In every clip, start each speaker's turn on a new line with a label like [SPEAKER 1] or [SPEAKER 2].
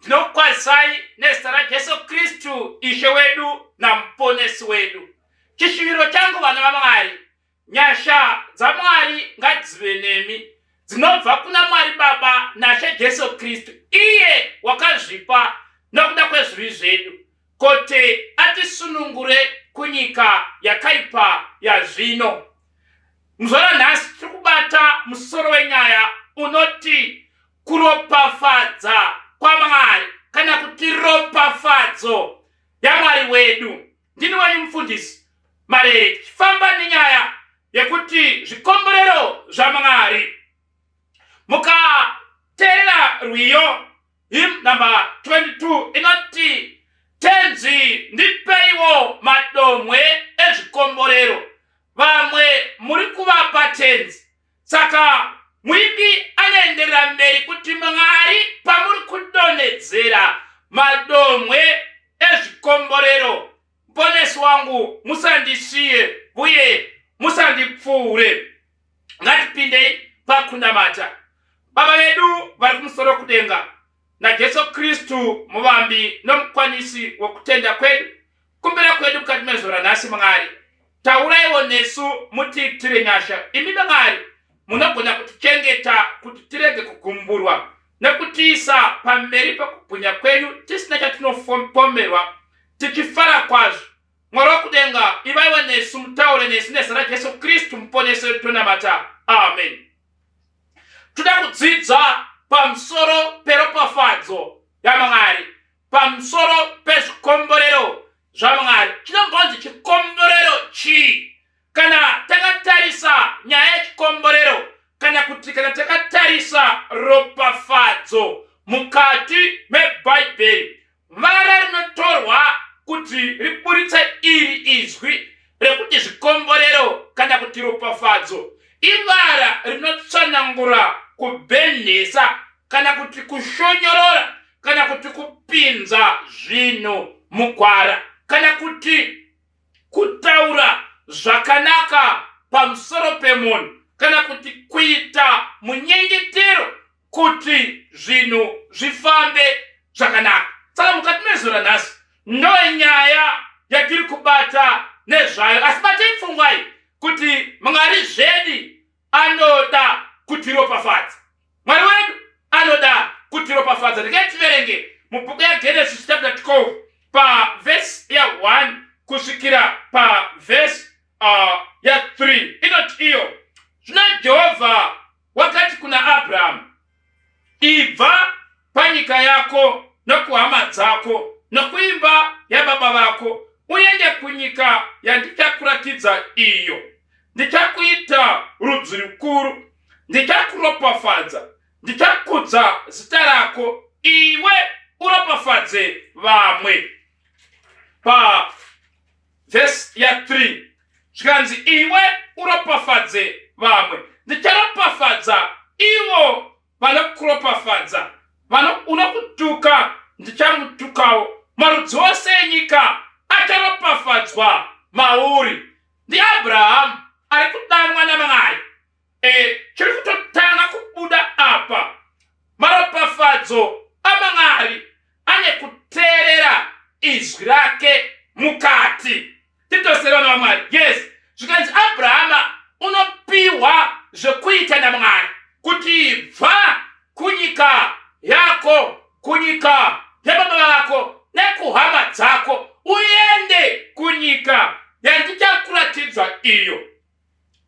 [SPEAKER 1] Ndinokukwazisai nezita raJesu Kristu Ishe wedu naMuponesi wedu. Chishuviro changu vana vaMwari, nyasha dzaMwari ngadzive nemi dzinobva kuna Mwari Baba naShe Jesu Kristu, iye wakazvipa nokuda kwezvivi zvedu kuti atisunungure kunyika yakaipa yazvino. Muzvara nhasi tiri kubata musoro wenyaya unoti kuropafadza kwamwari kana kuti ropafadzo yamwari wedu ndini wenyu mufundisi marere tichifamba nenyaya yekuti zvikomborero zvamwari mukateerera rwiyo him number 22 inoti tenzi ndipeiwo madomwe ezvikomborero vamwe muri kuvapa tenzi Saka muimbi anoenderera mberi kuti Mwari pamuri kudonhedzera madomwe ezvikomborero, muponesi wangu, musandisiye uye musandipfuure. Ngatipindei pakunamata Baba vedu vari kumusoro kudenga naJesu Kristu, muvambi nomukwanisi wokutenda kwedu. Kumbira kwedu mukati mezuva ranhasi Mwari, tauraiwo nesu mutiitire nyasha. Imi Mwari munogona kutichengeta kuti tirege kugumburwa nekutiisa pamberi pekubwinya kwenyu tisina chatinopomerwa tichifara kwazvo. Mwari wokudenga, ivaiwo nesu, mutaure nesu nezita raJesu Kristu muponesi wedu tonamata. Amen. Toda kudzidza pamusoro peropafadzo yaMwari. pamusoro pezvikomborero zvamwari chinombonzi chikomborero chii kana takatarisa nyaya yechikomborero kana kuti kana takatarisa ropafadzo mukati mebhaibheri vara rinotorwa kuti riburitsa iri izwi rekuti zvikomborero kana kuti ropafadzo ivara rinotsanangura kubhenhesa kana kuti kushonyorora kana kuti kupinza zvinhu mugwara kana kuti kutaura zvakanaka pamusoro pemunhu kana kuti kuita munyengetero kuti zvinhu zvifambe zvakanaka saka mukati mezora nhasi ndoe nyaya yatiri kubata nezvayo asi batei pfungwai kuti mwari zvedi anoda kutiropafadza mwari wedu anoda kutiropafadza regai tiverenge mubhuku yagenesis chapter 12 pavhesi ya 1 kusvikira pavhesi uh, ya 3 inoti iyo zvino jehovha wakati kuna abrahamu Ibva panyika yako nokuhama dzako nokuimba yababa vako uende kunyika yandichakuratidza iyo. Ndichakuita rudzi rukuru, ndichakuropafadza, ndichakudza zita rako, iwe uropafadze vamwe. Pa Vhesi ya 3 zvikanzi, Iwe uropafadze vamwe, ndicharopafadza ivo vanokuropafadza, vano unokutuka ndichamutukawo. Marudzi ose enyika acharopafadzwa mauri. NdiAbrahamu ari kudanwa naMwari e, chiri kutotanga kubuda apa maropafadzo amamwari ane kuteerera izwi rake mukati titosere vana vamwari yes zvikanzi abrahama unopiwa zvekuita namwari kuti bva kunyika yako kunyika yababa vako nekuhama dzako uende kunyika yandichakuratidzwa iyo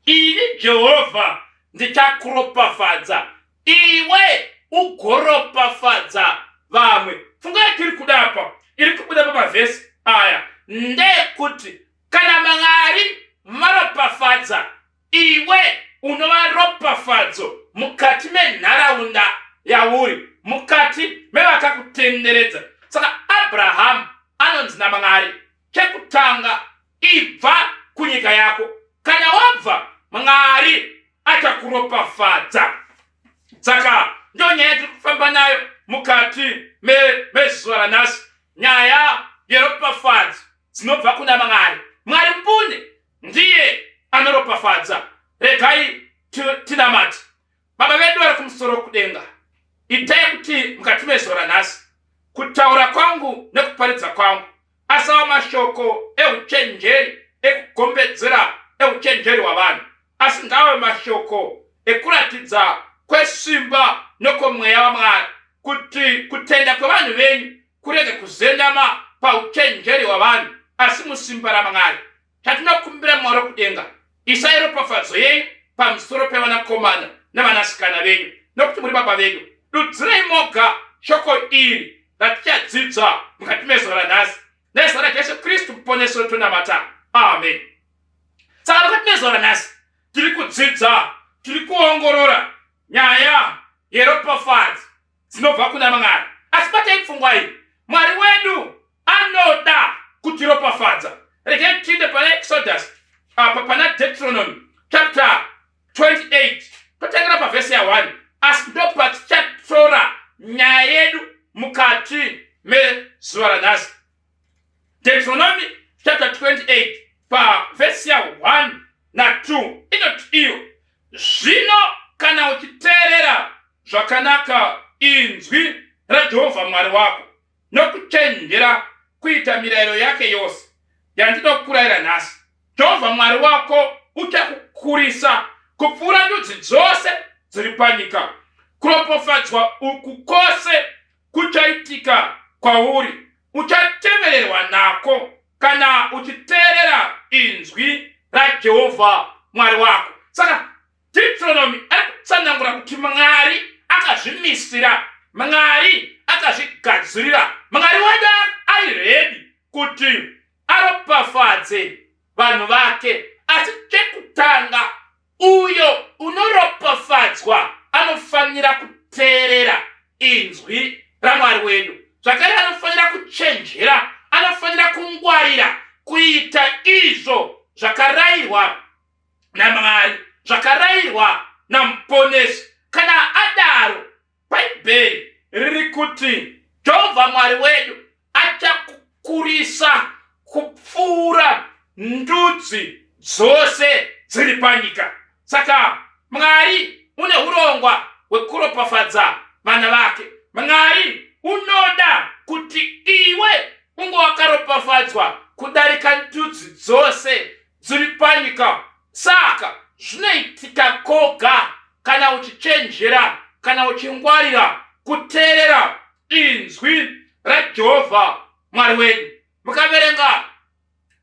[SPEAKER 1] Ini Jehovha ndichakuropafadza, iwe ugoropafadza vamwe. Funga yatiri kuda apa iri kubuda pamavhesi aya ndeyekuti kana Mwari varopafadza, iwe unova ropafadzo mukati menharaunda yauri, mukati mevakakutenderedza. Saka Abrahamu anonzi naMwari chekutanga ibva kunyika yako kana wabva mwari achakuropafadza saka ndo nyaya tiri kufamba nayo mukati mezuva ranhasi nyaya yeropafadzo dzinobva kuna mwari mwari mbune ndiye anoropafadza regai tinamati Baba vedu vari kumusoro kudenga, itai kuti mukati mezuva ranhasi kutaura kwangu nekuparidza kwangu asava mashoko euchenjeri ekugombedzera euchenjeri hwavanhu, asi ngaave mashoko ekuratidza kwesimba nokwomweya waMwari kuti kutenda kwevanhu venyu kurege kuzendama pauchenjeri hwavanhu asi musimba raMwari. Chatinokumbira Mwari wekudenga, isai ropafadzo yenyu pamusoro pevanakomana nevanasikana venyu, nokuti muri Baba vedu. Dudzirai moga shoko iri ratichadzidza mukati mezuva ranhasi, nezita raJesu Kristu Muponesi wedu tonamata, amen. Saka mukati mezuva ranhasi tiri kudzidza, tiri kuongorora nyaya yeropafadzo dzinobva kuna Mwari. Asi batai pfungwa iyi, Mwari wedu anoda kutiropafadza. Regai tiinde pana Exodus apa pana Deuteronomy chapter 28 totangira pavhesi ya 1 asi ndopatichatora nyaya yedu mukati mezuva ranhasi. Deuteronomy chapter 28 pavhesi ya 1 na 2 inoti iyo zvino kana uchiteerera zvakanaka inzwi rajehovha mwari wako nokuchenjera kuita mirayiro yake yose yandinokurayira nhasi jehovha mwari wako uchakukurisa kupfuura ndudzi dzose dziri panyika kuropofadzwa uku kwose kuchaitika kwauri uchatevererwa nako kana uchiteerera inzwi rajehovha mwari wako saka deuteronomy ari kutsanangura kuti mwari akazvimisira mwari akazvigadzirira mwari wada ari redi kuti aropafadze vanhu vake asi chekutanga Uyo unoropafadzwa anofanira kuteerera inzwi raMwari wedu. Zvakare anofanira kuchenjera, anofanira kungwarira kuita izvo zvakarayirwa naMwari, zvakarayirwa naMuponesi. Kana adaro, bhaibheri riri kuti jehovha mwari wedu achakukurisa kupfuura ndudzi dzose dziri panyika saka mwari une urongwa hwekuropafadza vana vake mwari unoda kuti iwe unge wakaropafadzwa kudarika ndudzi dzose dziri panyika saka zvinoitika koga kana uchichenjera kana uchingwarira kuteerera inzwi rajehovha mwari wedu mukaverenga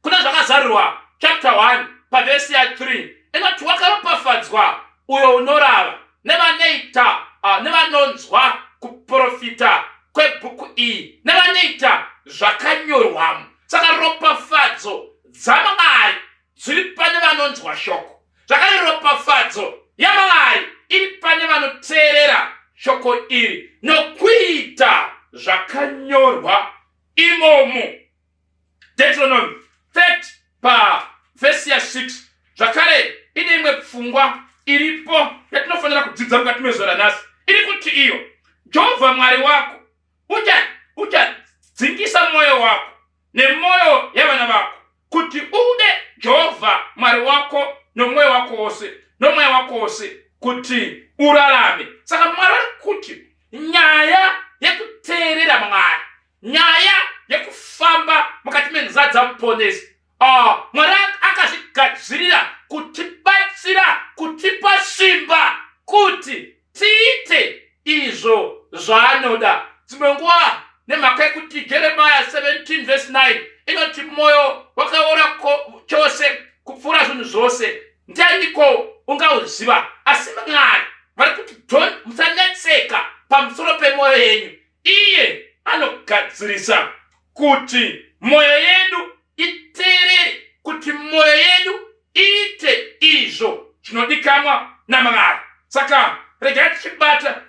[SPEAKER 1] kuna zvakazarirwa chapter 1 pavhesi ya 3 inoti wakaropafadzwa uyo unorava nevanoita ah, nevanonzwa kuprofita kwebhuku iyi nevanoita zvakanyorwamo saka ropafadzo dzaMwari dziri pane vanonzwa shoko, zvakare ropafadzo yaMwari iri pane vanoteerera shoko iri nokuita zvakanyorwa imomo. Deuteronomy 30 pavhesi ya 6 zvakare ine imwe pfungwa iripo yatinofanira kudzidza mukati mezuva ranhasi iri kuti iyo jehovha mwari wako uchadzingisa mwoyo wako nemwoyo yevana vako kuti ude jehovha mwari wako nomwoyo wako wose nomweya wako wose kuti urarame saka mwari vari kuti nyaya yekuteerera mwari nyaya yekufamba mukati menzira dzamuponesi ah, mwari akazvigadzirira kutibatsira kutipa simba kuti tiite izvo zvaanoda dzimwe nguva nemhaka yekuti jeremiya 17 vhesi 9 inoti mwoyo wakaora chose kupfuura zvinhu zvose ndianiko ungauziva asi mwari vari kuti musanetseka pamusoro pemwoyo yenyu iye anogadzirisa kuti mwoyo yedu iteerere kuti mwoyo yedu iite izvo zvinodikanwa namwari saka regai tichibata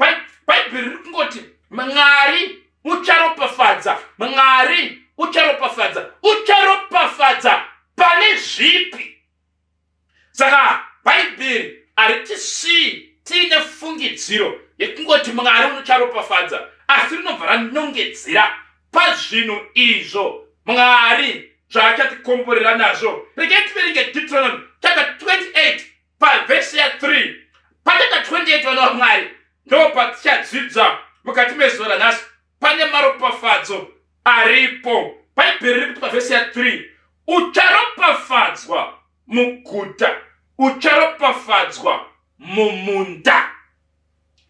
[SPEAKER 1] bhaibheri riri kungoti mwari ucharopafadza mwari ucharopafadza ucharopafadza pane zvipi saka bhaibheri haritisii tiine fungidziro yekungoti mwari unocharopafadza asi rinobva ranongedzera pazvinhu izvo mwari zvaachatikomborera nazvo regai tiverenge deuteronomy chapter 28 pavhesi ya 3 pachapter 28 vana vamwari ndo patichadzidza mukati mezuva ranhasi pane maropafadzo aripo bhaibheri riri kuti pavhesi ya 3 ucharopafadzwa muguta ucharopafadzwa mumunda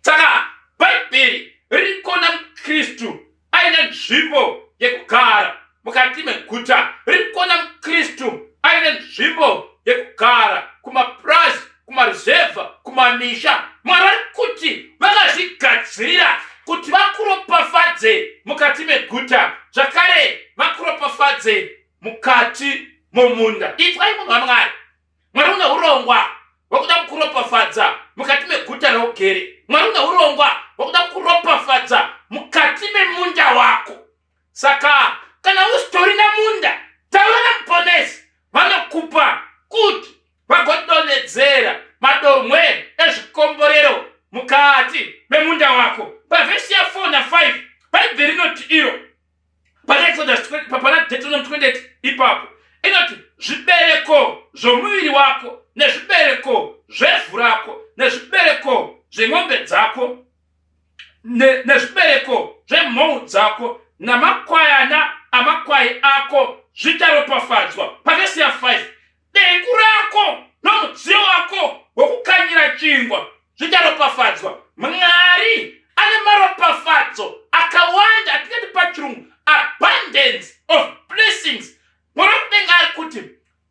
[SPEAKER 1] saka bhaibheri riri kuona mukristu aine nzvimbo yekugara mukati meguta riri kuona mukristu aine nzvimbo yekugara kumapurazi kumaruzevha kumamisha mwari vari kuti vakazvigadzirira kuti vakuropafadze mukati meguta zvakare vakuropafadze mukati mumunda itwai munhu wamwari mwari une urongwa hwekuda kukuropafadza mukati meguta raugere mwari une urongwa hwekuda kukuropafadza mukati memunda wako Saka kana usitorina munda taura namuponesi vanokupa kuti vagodonhedzera madomwe ezvikomborero mukati memunda wako. Pavhesi ya 4 na 5 Bhaibheri rinoti iro pana Exodus pana Deuteronomy 28 ipapo inoti zvibereko zvomuviri wako nezvibereko zvevhu rako nezvibereko zvemombe dzako nezvibereko zvemhou dzako namakwayana amakwai ako zvicharopafadzwa pavhesi ya 5 dengu rako nomudziyo wako wokukanyira chingwa zvicharopafadzwa mwari ane maropafadzo akawanda atingati pachirungu abundance of blessings mwana mudenga ari kuti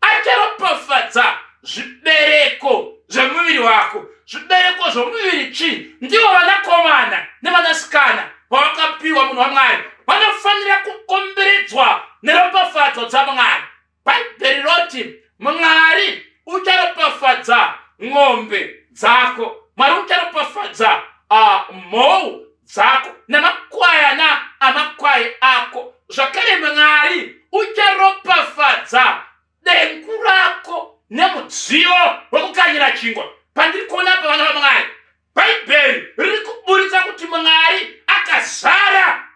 [SPEAKER 1] acharopafadza zvibereko zvemuviri wako zvibereko zvomuviri chii ndivo vanakomana nevanasikana vavakapiwa munhu wamwari vanofanira kukomberedzwa neropafadzo dzamwari bhaibheri roti mwari ucharopafadza ng'ombe dzako mwari ucharopafadza ah, mhou dzako namakwayana amakwai ako zvakare mwari ucharopafadza dengu rako nemudziyo wekukanyira chingwa pandiri kuona pa vana vamwari bhaibheri riri kuburitsa kuti mwari akazara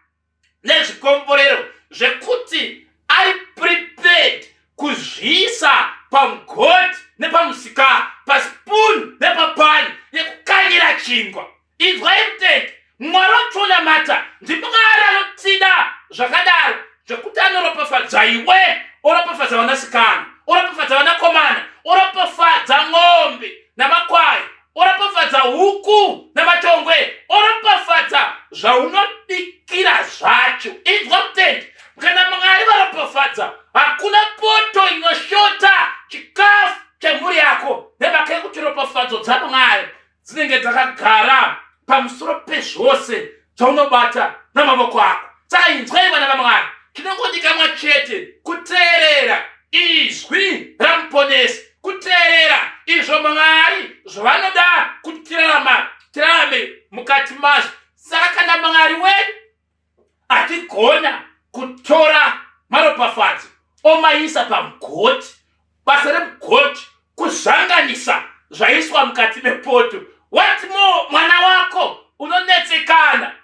[SPEAKER 1] nezvikomborero zvekuti ari prepared kuzviisa pamugoti nepamusika paspoon nepapani yekukanyira chingwa inzwai mutende mwari wationamata ndimwari anotida zvakadaro zvekuti anoropafadza iwe oropafadza vanasikana oropafadza vanakomana oropafadza n'ombe namakwai oropafadza huku namatongwe oropafadza zvaunobikira zvacho inzwa mutendi kana mwari varopafadza hakuna poto inoshota chikafu chemhuri yako nemhaka yekuti ropafadzo dzamwari dzinenge dzakagara pamusoro pezvose zvaunobata namavoko ako saka inzwai vana vamwari tinongodikamwa chete kuteerera izwi ramuponesi kuteerera izvo mwari zvavanoda kuti tirarama tirarame mukati mazvo saka kana mwari wedu atigona kutora maropafadzo omaisa pamugoti basa remugoti kuzvanganisa zvaiswa mukati mepoto what more mwana wako unonetsekana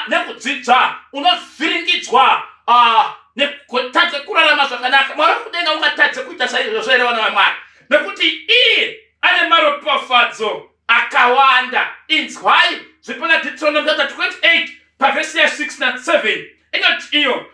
[SPEAKER 1] nekudzidza unovhiringidzwa ah, nekutadza kurarama zvakanaka mwari kudenga ungatadze kuita saizvozvo here vana vamwari nekuti iye ane maropafadzo akawanda inzwai zviri pana deuteronomy chapter 28 pavhesi ya 6 na 7 inoti iyo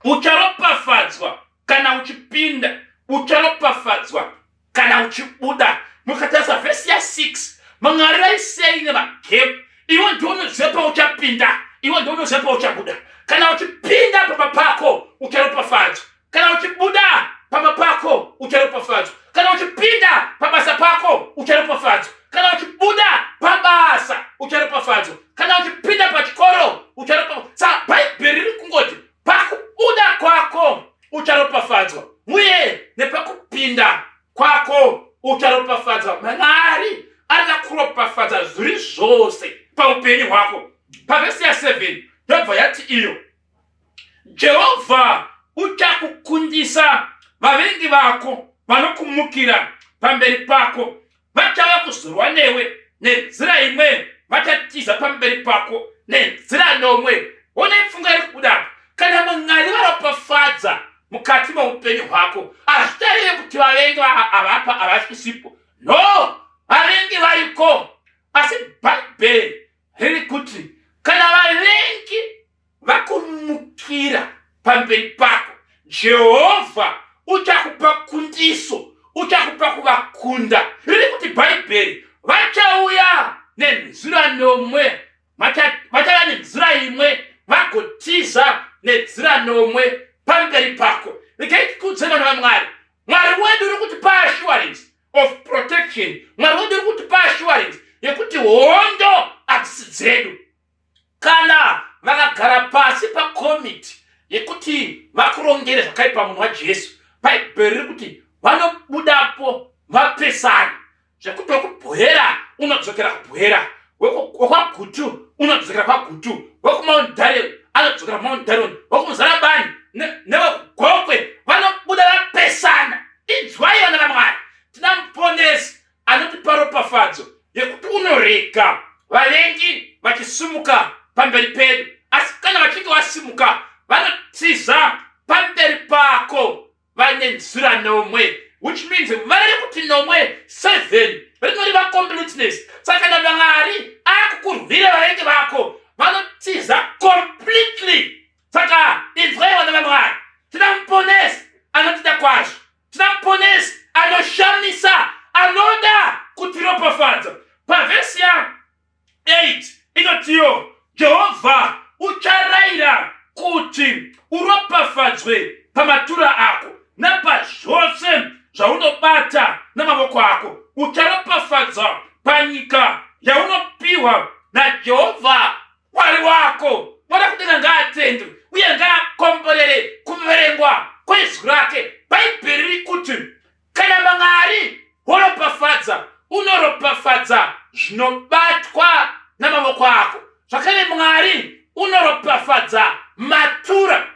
[SPEAKER 1] ucharopafadzwa kana uchipinda ucharopafadzwa kana uchibuda mukatarisa vhesi ya 6 mangarirai sei nemagep iwe ndounoziva pauchapinda iwe ndounoziva pauchabuda kana uchipinda pamba pako ucharopafadzwa kana uchibuda pamba pako ucharopafadzwa kana uchipinda pabasa pako ucharopafadzwa kana uchibuda pabasa ucharopafadzwa kana uchipinda pachikoro ucharopafadzwa sa bhaibheri riri kungoti pakubuda kwako ucharopafadzwa uye nepakupinda kwako ucharopafadzwa mwari arida kuropafadza zviri zvose paupenyu hwako pavhesi ya 7 yobva yati iyo jehovha uchakukundisa vavengi vako vanokumukira pamberi pako vachava kuzorwa newe nenzira imweni vachatiza pamberi pako nenzira nomwe one pfunga iri kubuda kana mwari varopafadza mukati meupenyu hwako hazvitarire kuti vavengi avapa havasisipo no vavengi variko asi bhaibheri riri kuti kana vavengi vakumukira pamberi pako jehovha uchakupa kundiso uchakupa kuvakunda riri kuti bhaibheri vachauya nenzira nomwe vachava nenzira imwe vagotiza nenzira nomwe pamberi pako regai tikudze vana vamwari mwari wedu uri kuti paassurance of protection mwari wedu uri kuti paassurance yekuti hondo hadzisi dzedu kana vakagara pasi pakomiti yekuti vakurongere zvakaipa munhu wajesu bhaibheri riri kuti vanobudapo vapesani zvekuti wekubhohera unodzokera kubhohera wekwagutu unodzokera kwagutu wekumount darion anodzokera kumount darion wekumuzarabani newekugokwe vanobuda vapesana inzwai vana vamwari tina muponesi anotipa ropafadzo yekuti unorega vavengi vachisimuka pamberi pedu asi kana vachinge vasimuka vanotiza pamberi pako vaine nzira nomwe which means vare kuti nomwe seven rinoreva completeness saka kana mwari akukurwira vavengi vako vanotiza completely saka inzwai vana vamwari tina muponesi anotida kwazvo Tina Muponesi anoshamisa anoda kutiropafadza. Pavhesi ya 8 inotiwo Jehovha ucharaira kuti uropafadzwe pamatura ako napazvose zvaunobata namavoko ako. Ucharopafadzwa panyika yaunopiwa naJehovha Mwari wako mwana kudenga ngaatendwe uye ngaakomborere kuverengwa kwezwi rake bhaibheri riri kuti kana mwari woropafadza unoropafadza zvinobatwa namavoko ako zvakare mwari unoropafadza matura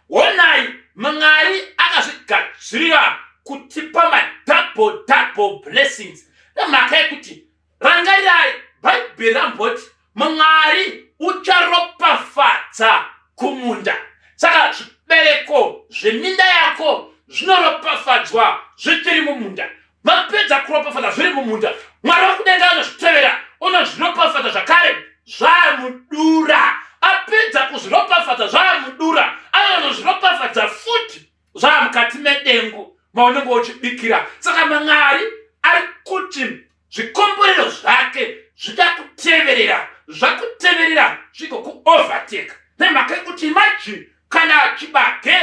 [SPEAKER 1] Honai, Mwari akazvigadzirira kutipa madouble double blessings nemhaka yekuti rangarirai bhaibheri ramboti Mwari ucharopafadza kumunda. Saka zvibereko zveminda yako zvinoropafadzwa zvichiri mumunda. vapedza kuropafadza zviri mumunda mwari vakudenga anozvitevera unozviropafadza zvakare zvaamudura apedza kuzviropafadza zvaamudura anozviropafadza futi zvaamukati medengu maunenge uchibikira saka mamwari ari kuti zvikomborero zvake zvida kuteverera zvakuteverera zvigokuovertake nemhaka yekuti imajini kana chibage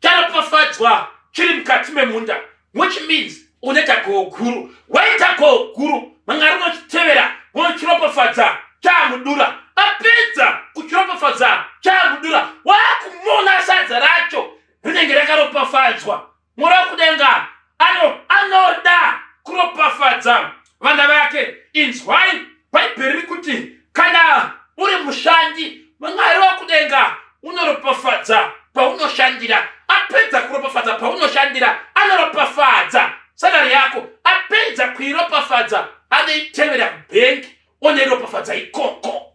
[SPEAKER 1] charopafadzwa chiri mukati memunda which means une tagoho guru why tagoho guru mwanga rinochitevera wochiropafadza chamudura apedza kuchiropafadza chamudura wakumona sadza racho rinenge rakaropafadzwa Mwari wekudenga ano anoda kuropafadza vana vake. Inzwai Bhaibheri riri kuti kana uri mushandi, Mwari wekudenga unoropafadza paunoshandira. Apedza kuropafadza paunoshandira, anoropafadza salari yako. Apedza kuiropafadza, anoitevera bhengi, onoiropafadza ikoko.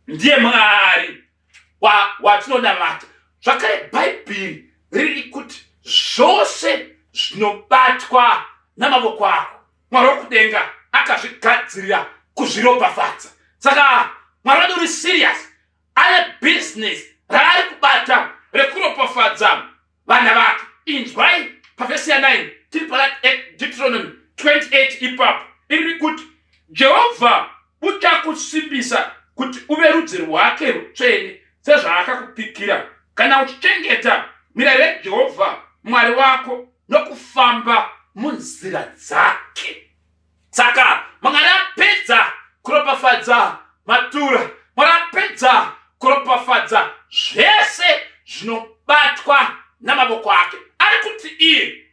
[SPEAKER 1] Ndiye Mwari watinonamata zvakare bhaibheri riri kuti zvose zvinobatwa namavoko ako mwari wokudenga akazvigadzirira kuzviropafadza saka mwari wedu uri siriyasi ane bhizinesi raari kubata rekuropafadza vana vake inzwai pavhesi ya 9 tiri pana deuteronomy 28 ipapo iri kuti jehovha uchakusimbisa kuti uve rudzi rwake rutsvene sezvaakakupikira kana uchichengeta mirayiro yejehovha mwari wako nokufamba munzira dzake saka mwari apedza kuropafadza matura mwari apedza kuropafadza zvese zvinobatwa namavoko ake ari kuti iye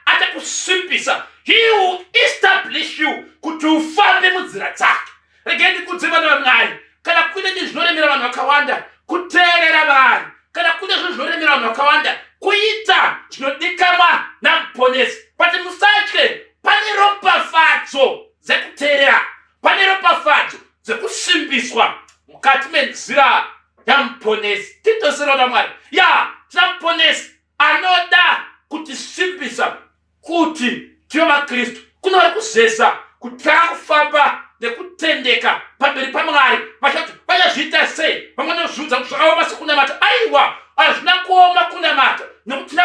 [SPEAKER 1] achakusimbisa he will establish you kuti ufambe munzira dzake regai ndikudze vana vamwari kana kune chinhu zvinoremera vanhu vakawanda kuteerera vanhu kana kune zvinhu zvinoremera vanhu vakawanda kuita chinodikanwa namuponesi but musatye pane ropafadzo dzekuteerera pane ropafadzo dzekusimbiswa mukati menzira yamuponesi titoserona mwari ya tinamuponesi anoda kutisimbisa Kuti tive maKristu kunova kuzeza kutanga kufamba nekutendeka pamberi paMwari. Vachati vachazviita sei? Vamwe vanozviudza kuti zvakaoma sekunamata. Aiwa, hazvina kuoma kunamata nekuti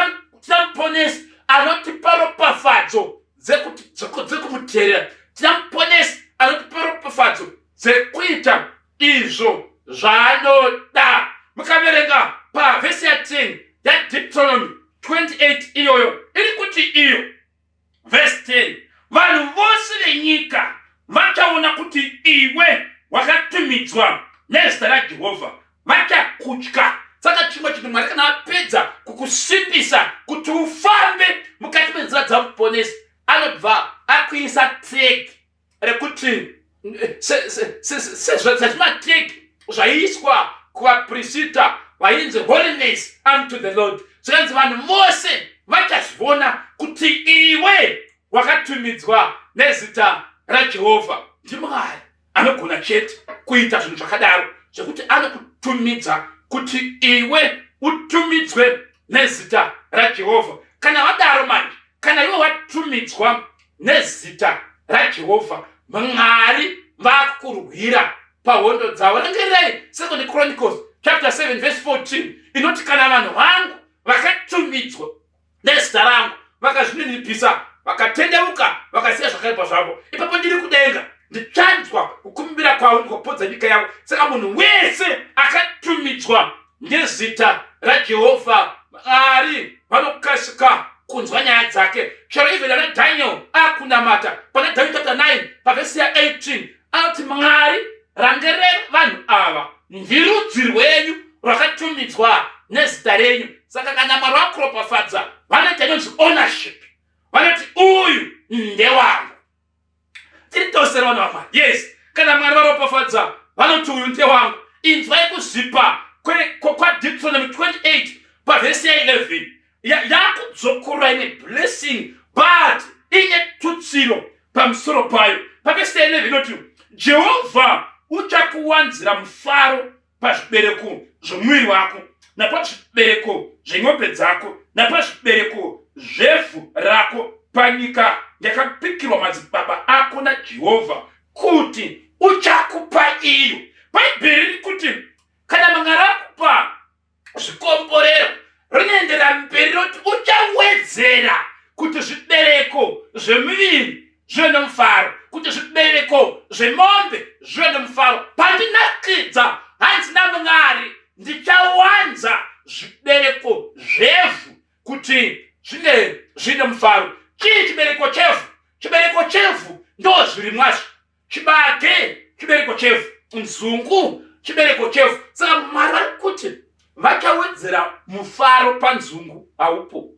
[SPEAKER 1] tina muponesi anotipa ropafadzo dzekumuteerera. Tina muponesi anotipa ropafadzo dzekuita izvo zvaanoda mukaverenga pavhesi ya 10 yadiptolomi 28 iyoyo iri kuti iyo vhesi 10 vanhu vose venyika vachaona kuti iwe wakatumidzwa nezita rajehovha vachakutya saka chimwe chinhu mwari kana apedza kukusimbisa kuti ufambe mukati menzira dzamuponesi anobva akuisa tegi rekuti sezvazvimateki zvaiiswa kuvaprisita vainzi holiness unto the lord zvikanzi vanhu vose vachazvivona kuti iwe wakatumidzwa nezita rajehovha ndimwari anogona chete kuita zvinhu zvakadaro zvekuti anokutumidza kuti iwe utumidzwe nezita rajehovha kana vadaro manje kana iwe watumidzwa nezita rajehovha mwari vakukurwira pahondo dzavo rengereyi second chronicles chapter 7 verse 14 inoti kana vanhu vangu vakatumidzwa nezita rangu vakazvininipisa vakatendeuka vakasiya zvakaipa zvavo ipapo ndiri kudenga ndichanzwa kukumbira kwavo ndikopodza nyika yavo saka munhu wese akatumidzwa Ngezita raJehovha Mwari vanokasika kunzwa nyaya dzake. Chero even ana Daniel akunamata pana Daniel chapter 9 pavhesi ya 18 anoti Mwari rangerei vanhu ava ndiri rudzi rwenyu rwakatumidzwa nezita renyu saka kana mwari wakuropafadza vanoita inonzi ownership vanoti uyu ndewangu tiri tose vana vamwari yes kana mwari varopafadza vanoti uyu ndiye wangu inzwai kuzvipa kwadipsonomy 28 pavhesi ya 11 yakudzokorora ine blessing but ine tutsiro pamusoro payo pavhesi ya 11 inoti jehovha uchakuwanzira mufaro pazvibereko zvomuviri wako napazvibereko zven'ombe dzako napazvibereko zvevhu rako panyika yakapikirwa madzibaba ako najehovha kuti uchakupa iyo bhaibheri riri kuti kana manga rakupa zvikomborero rinoendera mberi roti uchawedzera kuti zvibereko zvemuviri zvive nomufaro kuti zvibereko zvemombe zvive nomufaro pandinakidza hanzi namwari ndichawanza zvibereko zvevhu kuti zvinge zviine mufaro chii chibereko chevhu chibereko chevhu ndo zvirimwazvo chibage chibereko chevhu nzungu chibereko chevhu saka mwari vari kuti vachawedzera mufaro panzungu haupo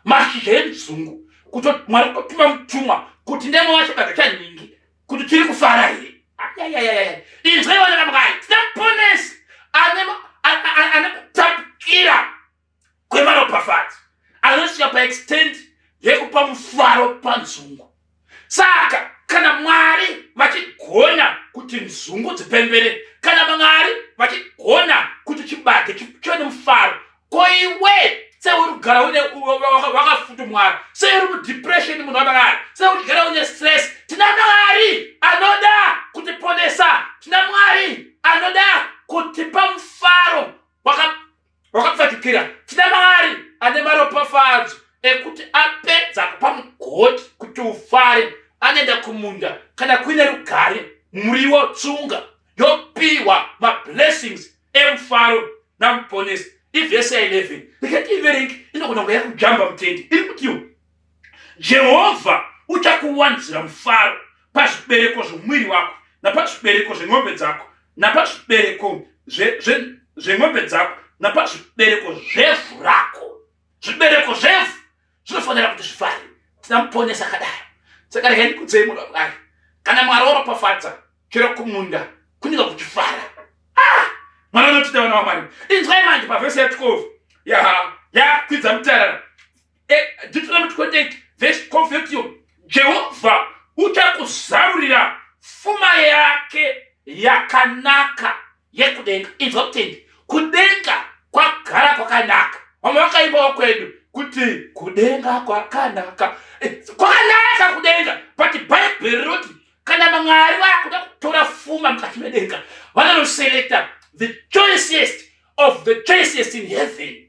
[SPEAKER 1] mashizha enzungu kuti mwari kutotuma mutumwa kuti ndemo wacho baba chaningi kuti tiri kufara here ayayayaya inzwai vana vamwari tina muponesi ane kutapukira kwemaropafadzo anosiya paextend yekupa mufaro panzungu saka kana mwari vachigona kuti nzungu dzipembere kana mwari vachigona kuti chibage chive nemufaro ko iwe seuri kugara une wakafudumwara seuri mudepression munhu wamwari seuri kugara une stress tina mwari anoda kutiponesa tina mwari anoda kutipa mufaro wakapfatukira tina mari ane maropafadzo ekuti apedza kupa mugoti kuti ufare anoenda kumunda kana kuine rugare muriwo tsunga yopiwa mablessings emufaro namuponesi ivhesi ya 11 ndikati iverengi inogona kunge yakujamba mutendi iri kutiwo Jehovha uchakuwanzira mufaro pazvibereko zvomuviri wako napazvibereko zven'ombe dzako napazvibereko zven'ombe dzako napazvibereko zvevhu rako zvibereko zvevhu zvinofanira kuti zvifare tina muponesa akadaro saka regai ndikudzei munhu wakudai kana mwari waropafadza chero kumunda kunika kuchifara ah! mwari anotida vana vamwari inzwai manje pavhesi ya 12 yaha yakwidza mutarara Eh, Deuteronomy 28 verse 12 yoti Jehovha uchakuzarurira fuma yake yakanaka yekudenga. Inzwa kutendi, kudenga kwagara kwakanaka. Vamwe vakaimbawo kwedu kuti kudenga kwakanaka. Eh, Kwakanaka kudenga, but Bible rinoti kana Mwari vakuda kutora fuma mukati medenga, vanonoselekta the choicest of the choicest in heaven.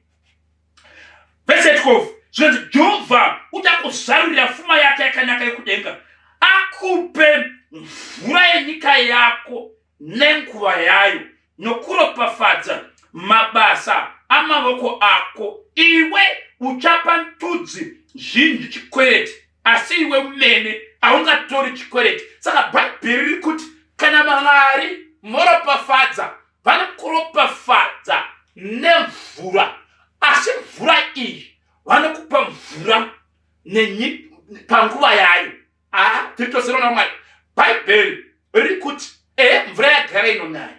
[SPEAKER 1] Vese 12 zvinonzi Jehovha uchakuzarurira fuma yake yakanaka yekudenga, akupe mvura yenyika yako nenguva yayo, nokuropafadza mabasa amavoko ako. Iwe uchapa ndudzi zhinji chikwereti, asi iwe umene haungatori chikwereti. Saka Bhaibheri riri kuti kana Mwari moropafadza vanokuropafadza nemvura asi mvura iyi vanokupa mvura panguva yayo aa tiri tose rona mwari bhaibheri riri kuti ehe mvura yagara inonaya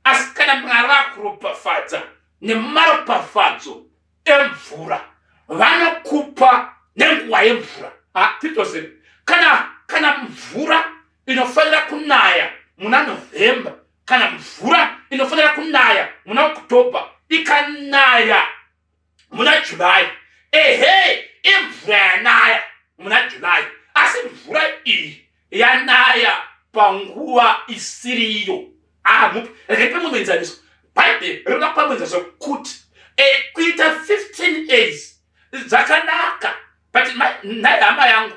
[SPEAKER 1] asi kana mwari vakuropafadza nemaropafadzo emvura vanokupa nenguva yemvura aa tiri tose kana kana mvura inofanira kunaya muna novhemba kana mvura inofanira kunaya muna oktober ikanaya muna july ehe imvura yanaya muna july asi mvura iyi yanaya panguva isiriyo amupi ah, regai pamwe muenzaniso bhaibheri rinoda kupa muenzaniso kuti eh, kuita 15 days dzakanaka but nhai hama yangu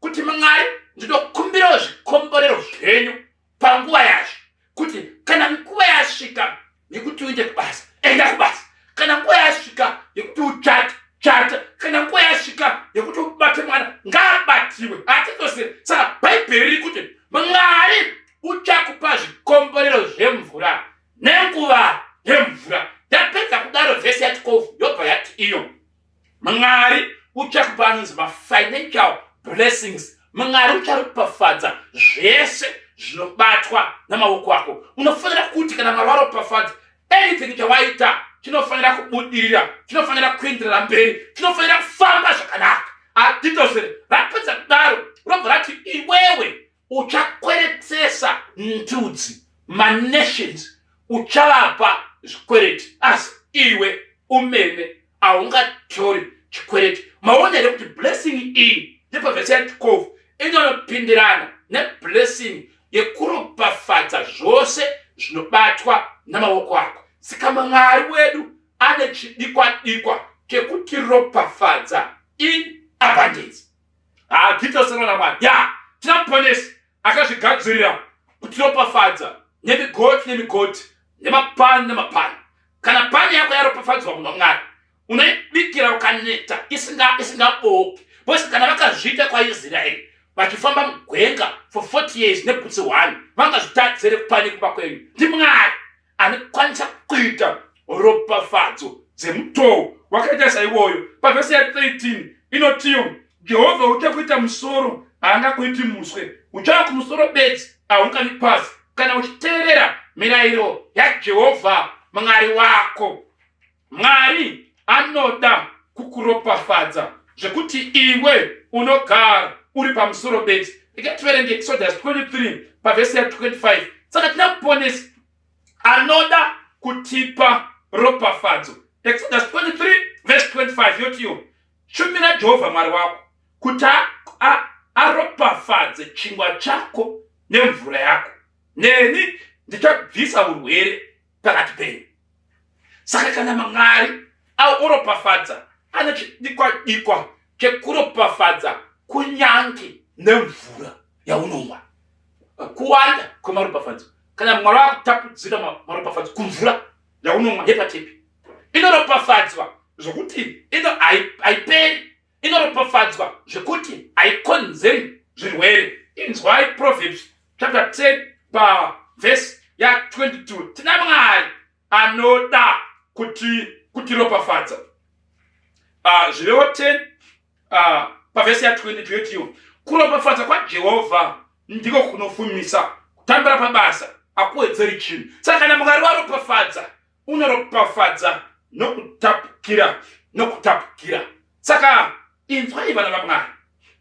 [SPEAKER 1] kuti mwari ndinokumbirawo zvikomborero zvenyu panguva yazvo kuti kana nguva yasvika yekuti uende kubasa enda kubasa kana nguva yasvika yekuti uchate chata kana nguva yasvika yekuti ubate mwana ngaabatiwe hatizosiri saka bhaibheri riri kuti mwari uchakupa zvikomborero zvemvura nenguva yemvura yapedza kudaro vhesi yatikovu yobva yati iyo mwari uchakupa anonzi mafinancial blessings mwari ucharopafadza zvese zvinobatwa namaoko ako unofanira kuti kana mwari waropafadza anything chawaita chinofanira kubudirira chinofanira kuenderera mberi chinofanira kufamba zvakanaka adidosere rapedza kudaro robva rati iwewe uchakweretesa ndudzi manations uchavapa zvikwereti asi iwe umene haungatori chikwereti maona here kuti blessing iyi nepavhesi ya 12 inonopindirana neblessing yekuropafadza zvose zvinobatwa namaoko ako saka mwari wedu ane chidikwa dikwa chekutiropafadza in abundance haa titosana namwari ya tinamuponesi akazvigadzirira kutiropafadza nemigoti nemigoti nemapani nemapani kana pani yako yaropafadzwa munhu wamwari unoibikira ukaneta isingabooki bcause kana vakazviita kwaisraeri vachifamba mugwenga for 40 years nebhutsi one vangazvitadzere kupani kumba kwenyu ndimwari anokwanisa kuita ropafadzo dzemutoo wakaita saiwoyo pavhesi ya 13 inotiyo jehovha ucha kuita musoro haanga kuiti muswe uchava kumusoro bedzi haungani pasi kana uchiteerera mirayiro yajehovha mwari wako Mwari anoda kukuropafadza zvekuti iwe unogara uri pamusoro bedzi rega tiverenge exodus 23 pavhesi ya 25 saka tina muponesi anoda kutipa ropafadzo exodus 23 vhesi 25 yotiyo shumira jehovha mwari wako kuti aropafadze chingwa chako nemvura yako neni ndichabvisa urwere pakati penyu saka kana mwari auropafadza ane chidikwa dikwa chekuropafadza kunyange nemvura yaunomwa kuwanda kwemaropafadzo kana mwari wakutapudzira maropafadzo kumvura yaunomwa yepatepi inoropafadzwa zvokuti ino haiperi inoropafadzwa zvekuti haikonzeri zvirwere inzwai proverbs chapter 10 pavhesi ya22 tina mwari anoda kuti kutiropafadza ah, zvirevo 10 ah, pavhesi ya22 yotiyo kuropafadza kwajehovha ndiko kunofumisa kutambira pabasa akuwedzeri chinhu saka kana mwari waropafadza unoropafadza nokutapukira nokutapukira saka inzwai vana vamwari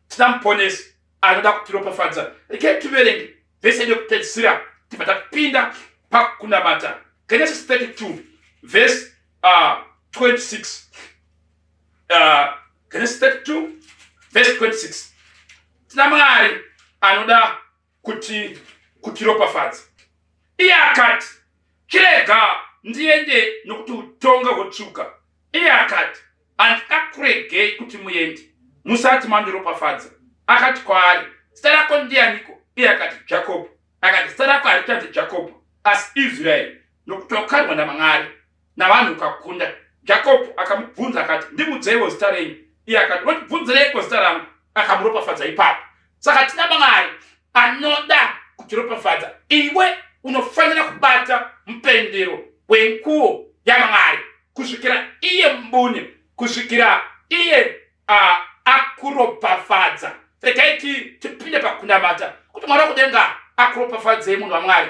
[SPEAKER 1] tina muponesi anoda kutiropafadza rekei tiverenge vese yedu yokupedzisira tibva tapinda pakunamata genesis 32 vhesi uh, 26 uh, genesis 32 vhesi 26 tina mwari anoda kuti kutiropafadza iye akati chirega ndiende nokuti utonga hwotsvuka iye akati handikakuregei kuti muendi musati mandiropafadza akati kwaari zita rako ndiyaniko iye akati jakobho akati zita rako harichanzi jakobho asi israeri nokuti wakarwa namwari navanhu ukakunda jacob akamubvunza akati ndimudzeiwo zita renyu iye akati votibvunzireiko zita rangu akamuropafadza ipapo saka tina mwari anoda kutiropafadza iwe unofanira kubata mupendero wenguo yamwari kusvikira iye mbune kusvikira iye uh, akuropafadza regai tipinde pakunamata kuti mwari wakudenga akuropafadzei munhu wamwari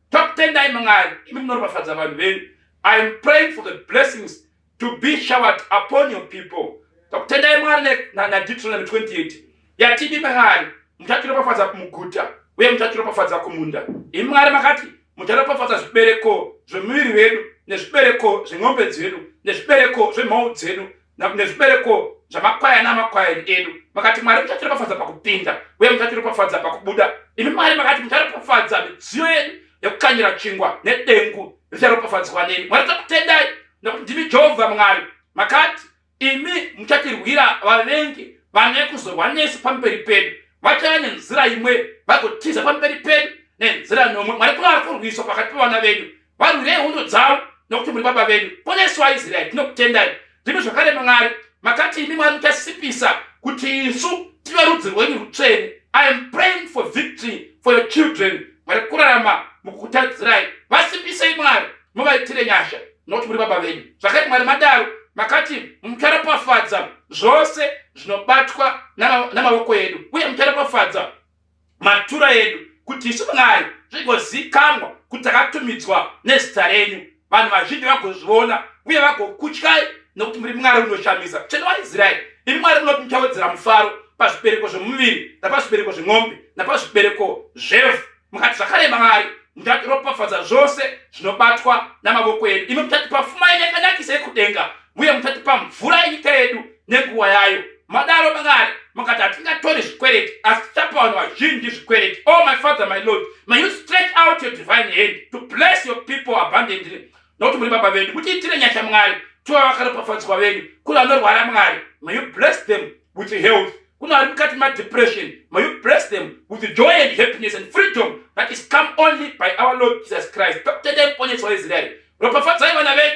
[SPEAKER 1] Tokutendai Mwari, imi munoropafadza vanhu venyu. I am praying for the blessings to be showered upon your people. Tokutendai Mwari naDeuteronomy 28 yati imi Mwari muchatiropafadza kumuguta uye muchatiropafadza kumunda. Imi Mwari makati mucharopafadza zvibereko zvemuviri wedu nezvibereko zven'ombe dzedu nezvibereko zvemhou dzedu nezvibereko zvamakwayani amakwayani edu makati mwari muchatiropafadza pakupinda uye muchatiropafadza pakubuda imi mwari makati mucharopafadza midziyo yedu yekukanyira chingwa nedengu richaropafadzwa nemi mwari takutendai nekuti ndimi jehovha mwari makati imi muchatirwira vavengi vane kuzorwa nesu pamberi pedu vachava nenzira imwe vagotiza pamberi pedu nenzira nomwe mwari kuvari kurwiswa pakati pevana venyu varwirei hondo dzavo nokuti muri baba vedu ponesu vaisraeri tinokutendai ndimi zvakare mwari makati imi mwari muchasipisa kuti isu tive rudzi rwenyu rutsvene i am praying for victory for your children mwari kurarama mukukutadzirai vasipisei mwari muvaitire nyasha nokuti muri baba venyu zvakati mwari madaro makati mucharopafadza zvose zvinobatwa namavoko edu uye mucharopafadza matura edu kuti isu mwari zvigozikanwa kuti takatumidzwa nezita renyu vanhu vazhinji vagozviona uye vagokutyai nokuti muri mwari unoshamisa tsvene waisraeri imi mwari munoti muchawedzera mufaro pazvibereko zvemuviri napazvibereko zvemombe napazvibereko zvevhu mukati zvakare mwari muchatiropafadza zvose zvinobatwa namavoko edu imi muchatipa fuma yenyakanakisa yekudenga uye muchatipa mvura yenyika yedu nenguva yayo madaro mangari mukati hatingatori zvikwereti asi tichapa vanhu vazhinji zvikwereti o oh, my father my lord may you stretch out your divine hand to bless your people abundantly nokuti muri baba vedu mutiitire nyasha mwari tova vakaropafadzwa venyu kune vanorwara mwari may you bless them with health kune vari mukati madepression may you bless them with joy and happiness and freedom that is come only by our lord jesus christ pakutendai muponesi waisraeri ropafadzai vana venyu